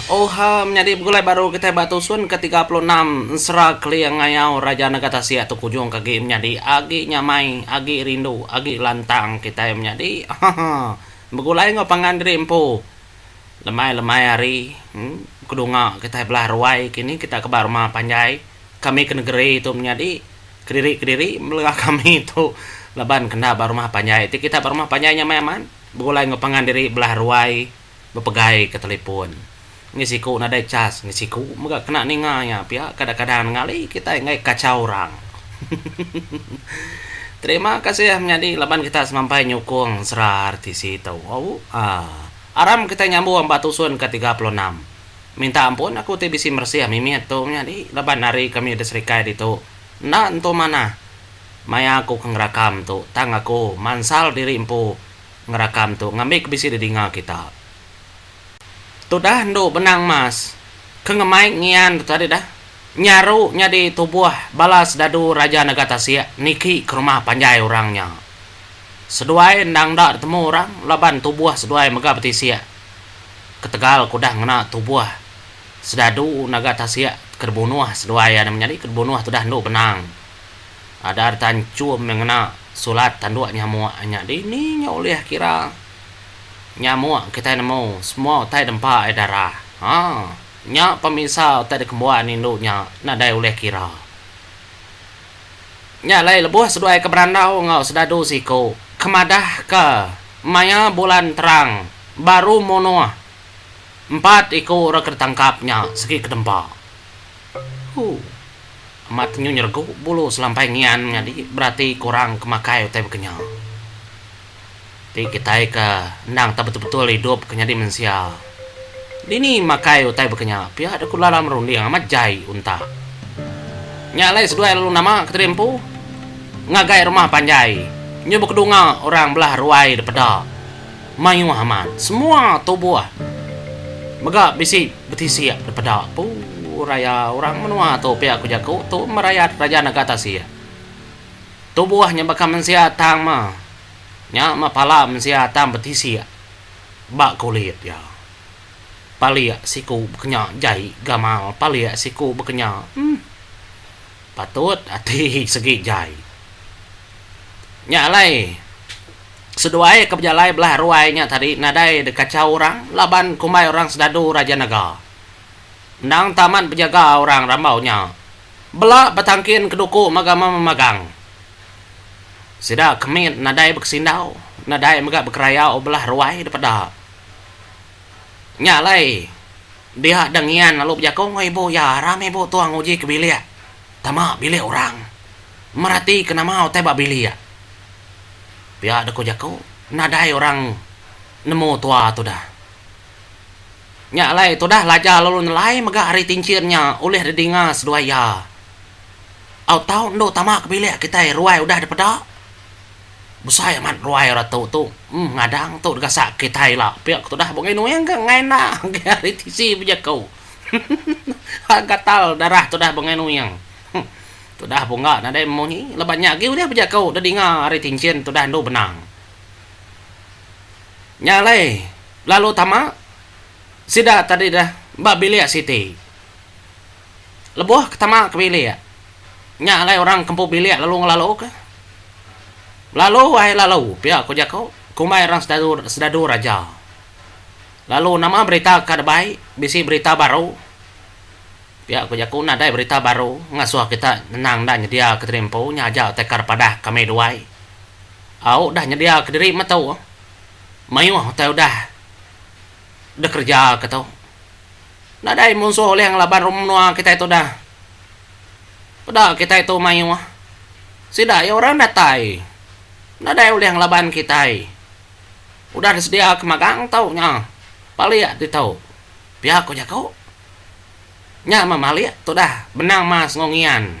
Oha menyadi begulai baru kitai ba Tusun ke tiga puluh enam Ensera Keling Ngayau Raja Negara Tasik tu kujung ke agi menyadi agi nyamai agi rindu agi lantang kitai menyadi haha begulai enggau pangan diri empu lemai-lemai hari kedunga kitai belah ruai kini kitai ke ba rumah panjai kami ke negeri tu menyadi kediri-kediri mela kami tu laban ke enda ba rumah panjai ti kitai ba rumah panjai nyamai amat begulai enggau pangan diri belah ruai. bepegai ke telefon ngi siku nadai chas ngi siku mega kena ninga iya pia kadang-kadang ngali kitai enggai kachau orang hehehe terima kasih menyadi laban kita semampai nyukung sera RTC tu au aa aram kita nyambung ba tusun ke tiga puluh enam minta ampun aku ti bisi meresih mimit tu menyadi laban ari kami da serikai ditu enda entu manah maya aku ke ngerakam tu tang aku mansal diri empu. ngerakam tu ngambika bisi didinga kita. Tudah endu benang emas ke ngemai ngian tu tadi dah nyaru nyadi tubuh bala sedadu Raja Nega Tasik niki ke rumah panjai orang nya. Seduai endang enda ditemu orang laban tubuh seduai mega betisik ketegal ke udah ngena tubuh sedadu Naga Tasik ke dibunuh seduai iya nya menyadi ke dibunuh tudah endu benang. Adar tan chum meh ngena sulat tanduk nyamuk nya dih ni nya ulih kira nyamuk kitai nemu semua utai dempa ai darah ha nya pemisa utai dikembuan indu nya nadai ulih kira. Nya alai lebuh seduai ke berandau enggau sedadu siku ke madahka maya bulan terang baru munuh empat iku orang ke ditangkap nya segi ke dempa. Hu. Amat nyu nyergu bulu selampai ngian nyadi berati kurang ke makai utai bekenya. Ti kitai ke endang tak betul-betul idup ke nyadi mensia. Dini makai utai bekenya pia deka ulala merunding amat jai unta. Nya alai seduai lalu nama ke tadi empu. Ngagai rumah panjai nyu bekedunga orang belah ruai dipeda. Mayuh amat semua tubuh mega bisi betisik dipeda empu raya orang menua tu pia ku jaku Tun Merayat Raja Naga Tasik. Tubuh nya baka mensia tang ma nya meh pala mensia tang betisik ba kulit iya. Palik siku bekenya jai gamal palik siku bekenya. Em. Patut ati segi jai. Nya alai seduai ke bejalai belah ruai nya tadi nadai dikachau orang laban kumbai orang Sedadu Raja Naga endang enta amat bejaga orang rambau nya bela betangkin keduku mega memagang sida ke mit nadai bekesindau nadai mega bekerayau belah ruai dipeda. Nya alai, dia dang ngian lalu bejaku enggau ibu iya, Ram ibu tua nguji ke bilik. Tama bilik orang. Meratika nama utai ba bilik. Pia deka jaku nadai orang nemu tua tudah. Nya alai, tudah Laja lalu nelai mega ari tinchin nya ulih didinga seduai iya. Au tau endu tama ke bilik kitai ruai udah dipeda. Besai amat ruai orang tu tu. Em ngadang tu digasak kitai ila pia ku tudah bungi nuing ke engai enda enggai ari tisi bejaku. Hah gatal darah tudah bungi nuing. Huh tudah bunga nadai munyi laban nya agi ulih bejaku da dinga ari tinchin tudah endu benang. Nya alai lalu tama sida tadi dah ba bilik siti. Lebuh ke tama ke bilik, nya alai orang ke empu bilik lalu ngelalu ke. Belalu ai lalu pia ku jaku kumbai orang sedadu sedadu raja. Lalu nama berita ka debai bisi berita baru. Pia ku jaku nadai berita baru ngasuh kita nyenang enda nyedia ke diri empu nya aja utai kar padah kami duai. Au udah nyedia ke diri metu mayuh utai udah dikereja ke tu. nadai munsuh ulih ngelaban rum menua kitai tu dah. Peda kitai tu mayuh. Sida iya orang datai. Nadai ulih ngelaban kitai. Udah disedia ke magang tu nya palik ditu. Pia ku jaku. Nya meh malik tu dah benang mas enggau ngian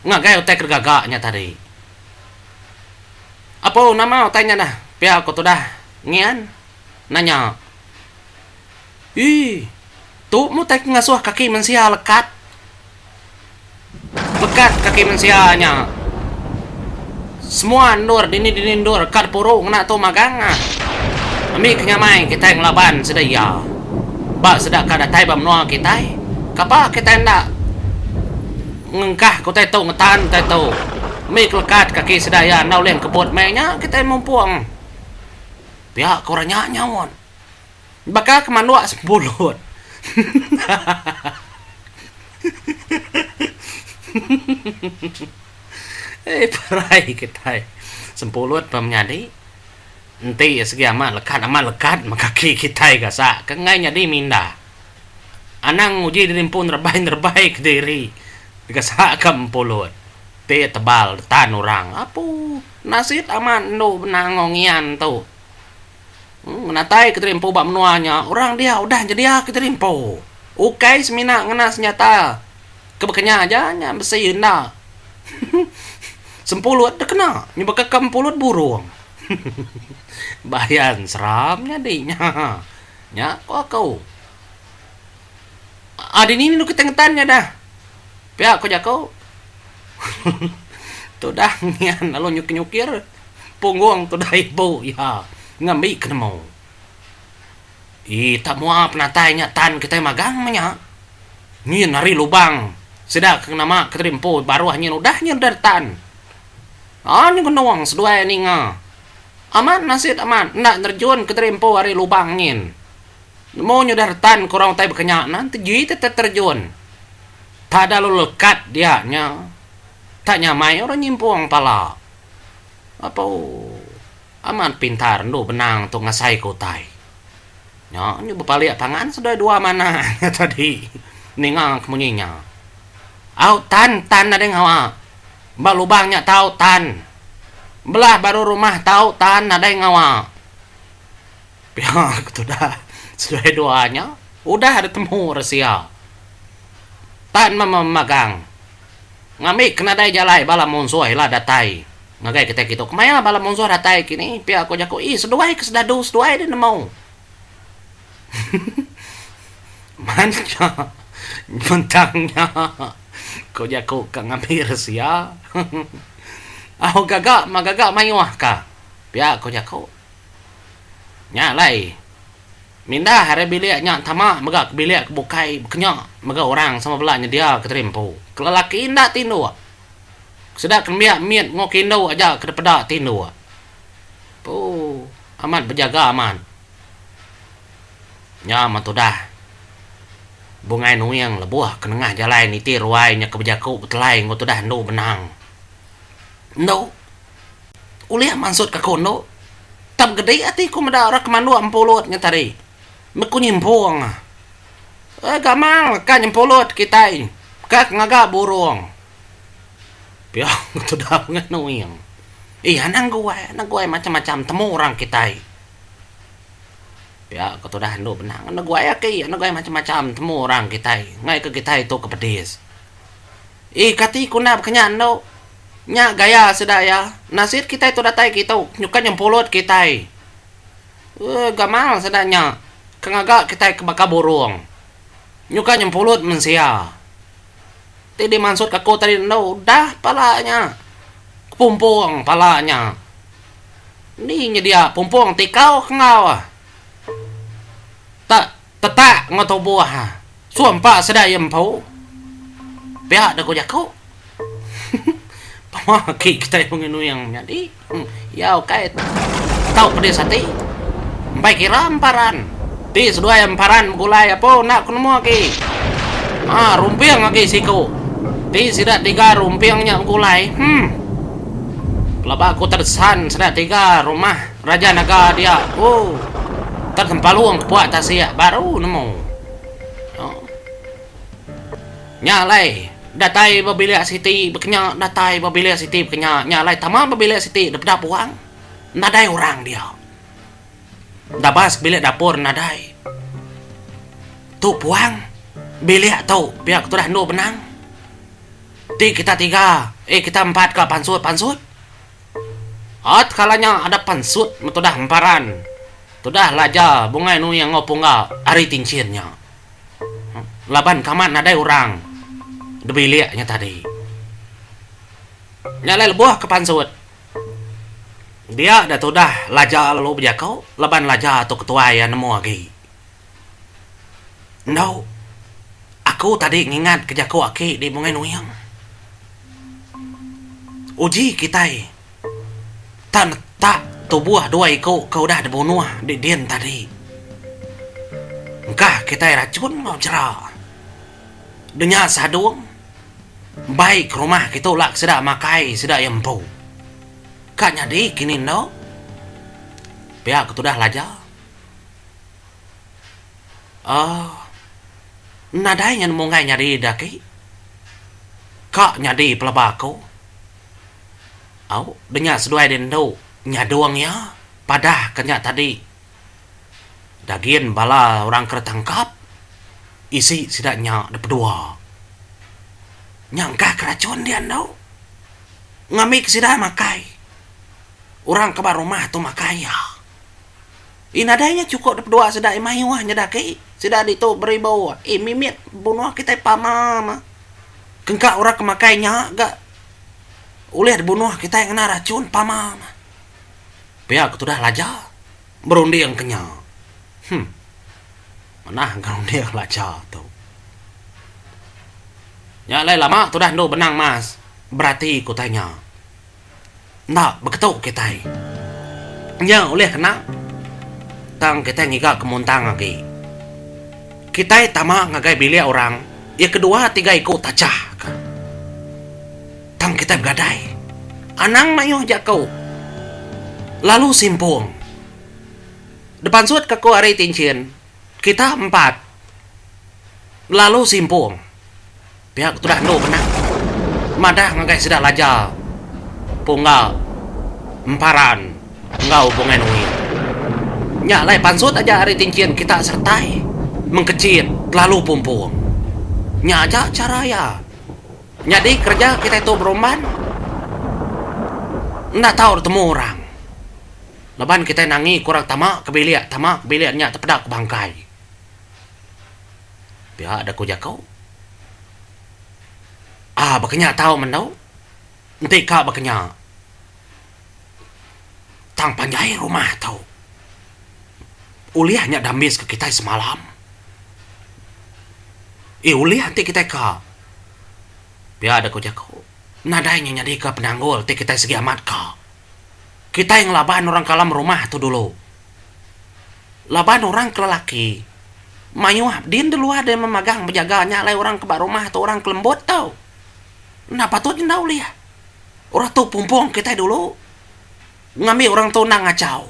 ngagai utai ke digaga nya tadi. Apu nama utai nya dah pia ku tudah ngian. nanya, Ii, tu mutai ke ngasuh kaki mensia lekat? Lekat kaki mensia nya. Semua endur dini-dini endur ka dipuru ngena tu magang ah. Ambi ke nyamai kitai ngelaban sida iya. Ba sida ka datai ba menua kitai, kapa kitai enda ngengkahka utai tu ngetan utai tu. Ambi ke lekat kaki sida iya enda ulih ngkebut meh nya kitai mumpung. Pia ke orang nya nyaut. Baka ke manduk sepulut. Ai perai kitai. Sepulut pa menyadi. Enti segi amat lekat amat lekat meh kaki kitai gasak ke enggai nyadi minda. Anang nguji diri empu nerebai-nerebai kediri gasak ka empulut ti tebal ditan orang. Apu. Nasit amat endu benang enggau ngian tu. Ngenatai Kiteri Empu ba menua nya, orang dia udah nyedia Kiteri Empu. Ukai semina ngena senjata ke bekenya aja nya besi enda. Sempulut deh kena nyebaka ke empulut burung. Bayan seram nyadi nya. Nya ko aku. Aaa dini rindu kitai ngetan nya dah. Pia ko jaku. Tudah ngian lalu nyukir-nyukir punggung tudah ibu iya ngambi ke nemu. Ii tak mua penatai nya tan kitai magang meh nya. Nyin ari lubang sida ke nama ke tadi empu baruh nyin udah nyin udah ditan. Aa nyengenung seduai ninga. Amat nasit amat enda nerejun ke tadi empu ari lubang nyin. Nemu nyudah retan ke orang utai bekenya nya enti ji teta terjun tada lalu lekat dia nya tak nyamai orang nyimpung pala lalu amat pintar endu benang tu ngasai ke utai nya nya bepalik pangan seduai dua manah nya tadi ninga ke munyi nya au tan tan nadai ngawa ba lubang nya tau tan belah baru rumah tau tan nadai ngawa. Pia ku tudah seduai dua nya udah ditemu Resia tan memagang ngambika nadai jalai bala munsuh ila datai ngagai kitai kitu. Kemaya bala munsuh datai kini pia ku jaku ih seduai ke sedadu seduai deh nemu. Mancha bentang nya ku jaku ka ngambi Resia. Au gaga ma gaga mayuh ka pia ku jaku. Nya alai, mindah ari bilik nya tama mega ke bilik ke bukai bekenya mega orang sama bela nyediaka tadi empu. Ke lelaki enda tinduk, sida ke nembiak mit enggau ke indu aja ke dipeda tinduk. Ooh, amat bejaga amat. Nya mah tudah. Bungai Nuing lebuh ke nengah jalai niti ruai nya ke bejaku betelai enggau tudah endu benang. Endu. ulih mansutka aku endo. Tang gedi ati ku meda orang ke manduk empulut nya tadi. Neku nyimpung. Ai gamal ka nyempulut kitai ka ngaga burung. Pia ku tuda mengah nuing. Iya anang guai, anang guai macam-macam temu orang kitai. Pia ku tuda endo benang. Anang guai ake iya, anang guai macam-macam temu orang kitai. Ngaika kitai tu ke pedis. Ih kati ku nda baka nya endo. Nya gaya sida iya. Nasit kitai tu datai ke itu nyuka nyempulut kitai. Ooh gamal sida nya ke ngaga kitai ke baka burung. Nyuka nyempulut mensia. Ti dimansut aku tadi endo udah pala nya. Kepumpung pala nya. Endi nyedia pumpung ti kau ke enggau. Tak. Tetak enggau tubuh ha. Sumpa sedar iya empu. Pia deka jaku. Pama aki kitai Pengai Nuing nyadi. Iya ukai tau pedis ati. Empai kira emparan. Ti seduai emparan begulai apo enda ku nemu aki. Ha rumping aki siku. Ti sida tiga rumping nya begulai. Hmm. Pelaba aku terdesan sida tiga rumah. Raja naga dia ku tang kempalung kepuak tasik baru nemu. Oh. Nya alai datai ba bilik siti bekenya datai ba bilik siti bekenya nya alai tama ba bilik siti depeda puang nadai orang dia. Dabas bilik dapur nadai. Tu puang bilik tu pia ke tudah endur benang. Ti kita tiga eh kita empat ka pansut-pansut. At kala nya ada pansut metudah emparan tudah laja bungai nuni enggau pungga ari tinchin nya laban kamat nadai orang debilik nya tadi. Nya alai lebuh ke pansut dia da tudah laja lalu bejaku laban laja tu ketuai iya nemu agi. Endo. Aku tadi ngingatka jaku aki di Bungai Nuing. Uji kitai ta netak tubuh dua iku ke udah dibunuh di din tadi. Engkah kitai rachun enggau chera. Denya Sadong bai ke rumah ke tu lak sida makai sida iya empu. Ka nyadi kini endo. Pia ke tudah laja. uhh nadai nyen munggai nyadi ida agi ka nyadi pelaba aku au da nya seduai deh endo nyadong iya padah ka nya tadi dagin bala orang ke ditangkap isi sida nya da pedua nya engkah ka rachun dia endo ngambi ke sida makai orang ke ba rumah tu makai iya. Ih nadai nya chuko dep dua sida ih mayuh nyeda aki sida ditu beribu ih mimit bunoh kitai pama ma kengka ora ke makai nya ga ulih dibunoh kitai ngena rachun pama ma pia ke tudah laja berunding ke nya hum manah ga runding laja tu nya alai lama tudah endo benang mas berati ku tanya. enda beketu kitai. Nya ulih kena tang kitai ngiga ke muntang agi. Kitai tama ngagai bilik orang iya ke dua tiga iku tachah ka. Tang kitai begadai. Anang mayuh jaku lalu simpung. Dipansut ka ku ari Tinchin, kita empat lalu simpung. Pihak ketudah endur benang madah ngagai sida laja pungga emparan enggau Bungai Nui. Nya alai pansut aja ari Tinchin kita seretai mengkechit telalu pumpung. Nya aja chara iya. Nyadi kereja kitai tu berumban enda tau ditemu orang. Laban kitai nangi ke orang tama ke bilik, tama ke bilik nya tepeda ke bangkai. Pia da ku jaku. Ah baka nya tau menu. Enti ka baka nya tang panjai rumah tu ulih nya dambis ka kitai semalam. Ih ulih enti kitai ka. Pia da ku jaku. Nadai nya nyadi ka penanggul ti kitai sigi amat ka. Kitai ngelaban orang kalam rumah tu dulu. Laban orang ke lelaki mayuh din de luah deh memagang bejaga nya alai orang ke ba rumah tu orang ke lembut tu. Enda patut enda ulih. Orang tu pumpung kitai dulu ngambi orang tu enda ngachau.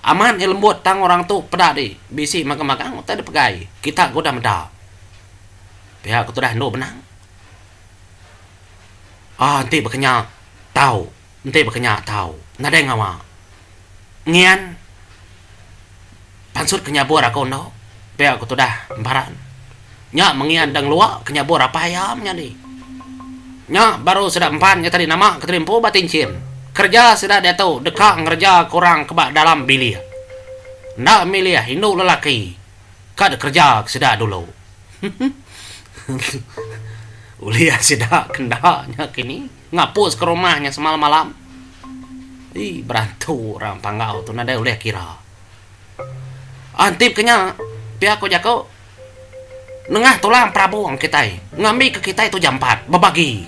Amat nya lembut tang orang tu peda di bisi magang-magang utai deh pegai. Kita ke udah meda pia ke tudah endu benang uhh enti bekenya tau. Enti baka nya tau nadai ngawa ngian pansut ke nyabur aku endo pia aku tudah emparan nya mengian dang lua ke nyabur apai iya menyadi nya baru sida empan nya tadi nama ke tadi empu ba tinchin kerja sida diatu deka ngereja ke orang ke ba dalam bilik enda milih indu lelaki ka da kerja ke sida dulu ulih sida ke enda nya kini. Ngapus ke rumah nya semalam malam. Ih berantu orang panggau tu nadai ulih kira. Antip ke nya pia ku jaku nengah tulang perabung kitai ngambi ke kitai tu jampat bebagi.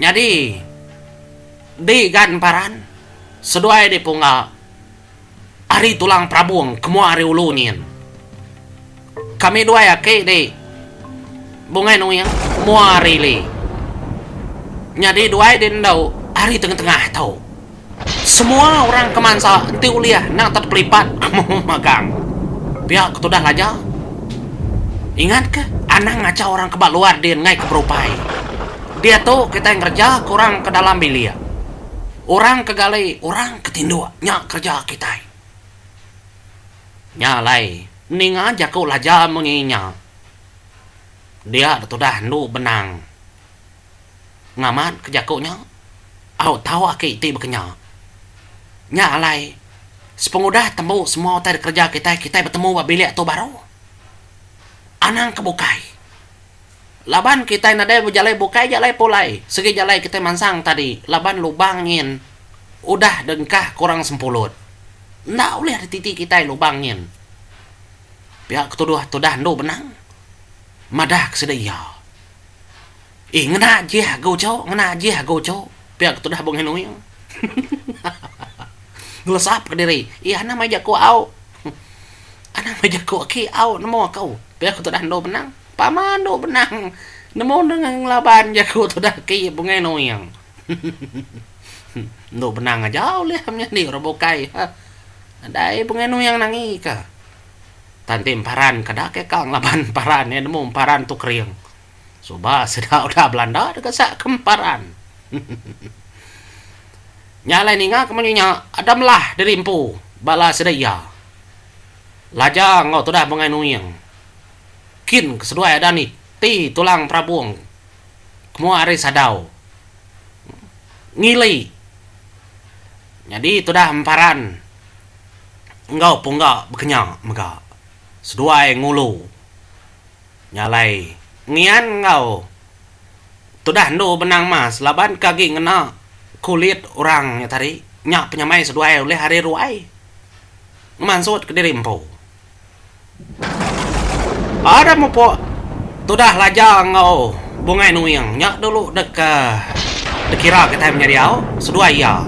Nyadi di gan paran seduai di pungga. Ari tulang perabung ke mua ari ulu nyin. Kami duai aki di Bungai Nuing mua ari ili. Nyadi duai di endu ari tengah-tengah tu. Semua orang ke mansa enti ulih endang tak tepelipat amu magang. Pia ke tudah laja. Ingat ke anang ngacha orang ke ba luar din ngaika berupai. Diatu kitai ngereja ke orang ke dalam bilik. Orang ke gali, orang ke tinduk, nya kereja kitai. Nya alai, ninga jaku laja munyi nya, dia da tudah endu benang. Ngamatka jaku nya, au tau aki ti bekenya. Nya alai, sepengudah tembu semua utai dikereja kitai, kitai betemu ba bilik tu baru. Anang ke bukai. Laban kitai nadai bejalai bukai jalai pulai, sigi jalai kitai mansang tadi laban lubang nyin udah dengkah kurang sempulut. Enda ulih dititi kitai lubang nyin. Pia ke tuduh tudah endu benang, madah ke sida iya. Ih ngena jih agu cu, ngena jih agu cu, pia ke tudah Bung Henoing. Ngelesap ke diri, ih anang meh jaku au. Anang meh jaku aki au nemu aku, pia ke tudah endu benang. Pama andu benang nemu nengah ngelaban jaku tudah ke iya Bungai Noyang. Endu benang aja ulih menyadi orang bukai ha. Nadai Bungai Noyang nangi ka. Tan ti emparan ka da ke ka ngelaban emparan iya nemu emparan tu kering. Suba sida udah belanda deka sak ke emparan. Nya alai ninga ke munyi nya ada melah diri empu bala sida iya. Laja enggau tudah Bungai Noyang. Kin keseduai ada ni ti tulang perabung ke mua ari sadau ngili nyadi tudah emparan enggau pungga bekenya mega seduai ngulu nya alai ngian enggau tudah endu benang mas laban ke agi ngena kulit orang nya tadi nya penyamai seduai ulih ari ruai ngemansut kediri empu. Ada mupuk tudah laja enggau Bungai Nuing nya dulu deka dikira kitai menyadi au seduai iya.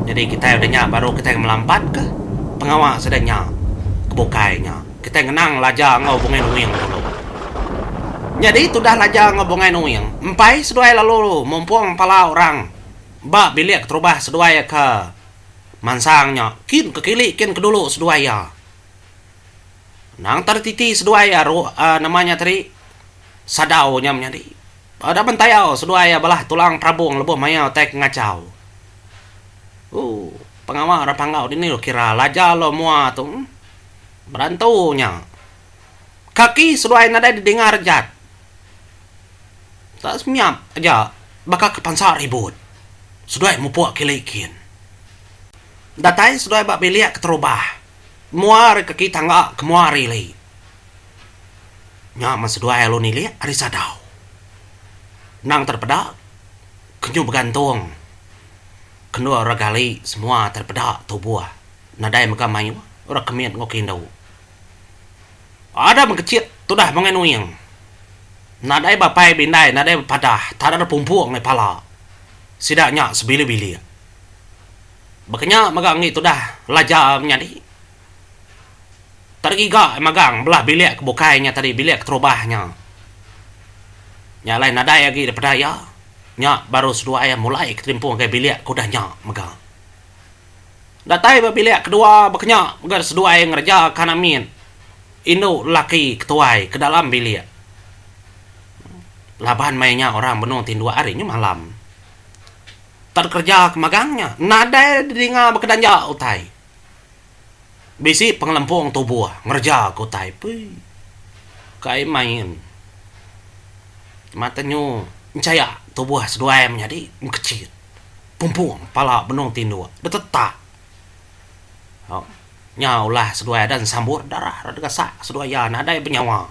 Nyadi kitai udah nya baru kitai ngelampatka pengawa sida nya ke bukai nya. Kitai ngenang laja enggau Bungai Nuing dulu. Nyadi tudah laja enggau Bungai Nuing empai seduai lalu mumpung pala orang ba bilik keterubah seduai ka mansang nya kin ke kili kin ke dulu seduai iya. Anang tadi titi seduai iya ro um nama nya tadi sadau nya menyadi. Ba daman tayau seduai iya belah tulang perabong lebuh maya utai ke ngachau. Ooh pengawa orang panggau dini lu kira laja lu mua tu berantu nya. Kaki seduai nadai didinga rejat. Enda semiap aja baka ke pansa ribut. Seduai mupuk kili kin. Datai seduai ba bilik keterubah. Mua ari kaki tangga ke mua ari ili. Nya men seduai alu nilik ari sadau. Nang terpeda ke nyu begantung ke endur orang gali semua terpeda tubuh nadai mega mayuh orang ke mit enggau ke indu. Ada mengkecit tudah mengeh nuing. Nadai bapai bindai nadai bepadah tada ada pumpung meh pala. Sida nya sebili-bili. Bekenya mega enggi tudah laja menyadi. Tada giga magang belah bilik ke bukai nya tadi bilik ke terubah nya. Nya alai nadai agi daripada iya. Nya baru seduai iya mulai ke telimpung ngagai bilik ke udah nya mega. Datai ba bilik kedua bakanya mega seduai ngereja kan amin indu lelaki ke tuai ke dalam bilik laban maya nya orang benung ti indu ari nya malam tak kereja ke magang nya nadai dinga baka danja utai bisi pengelempung tubuh ngereja ke utai pui kai main mata nyu enchaya tubuh seduai menyadi mekecit. Pumpung pala benung tinduk betetak nya ulah seduai adan sambut darah ra degasak seduai iya nadai benyawa.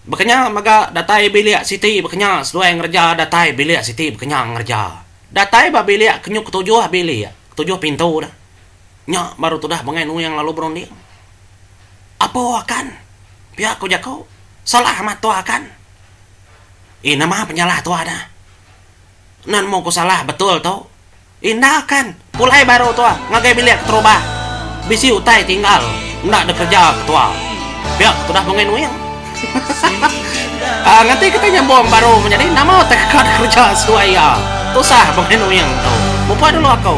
Bekenya mega datai bilik siti bekenya seduai ngereja datai bilik siti bekenya ngereja. Datai ba bilik ke nyuk ketujuh bilik ketujuh pintu da nya baru tudah bengai nuing lalu berunding. Apo akan pia ko jaku salah amat tua akan. Ih nama penyalah tua da. Nan mung ku salah betul tu. Enda kan. Pulai baru tua ngagai bilik keterubah. Bisi utai tinggal enda ada kerja ketua. Pia ke tudah Penguin Wing. Hahaha. Nganti kitai nyambung baru menyadi nama utai ke kada kerja seduai iya. Tusah Penguin Wing tu. Mupuk dulu aku.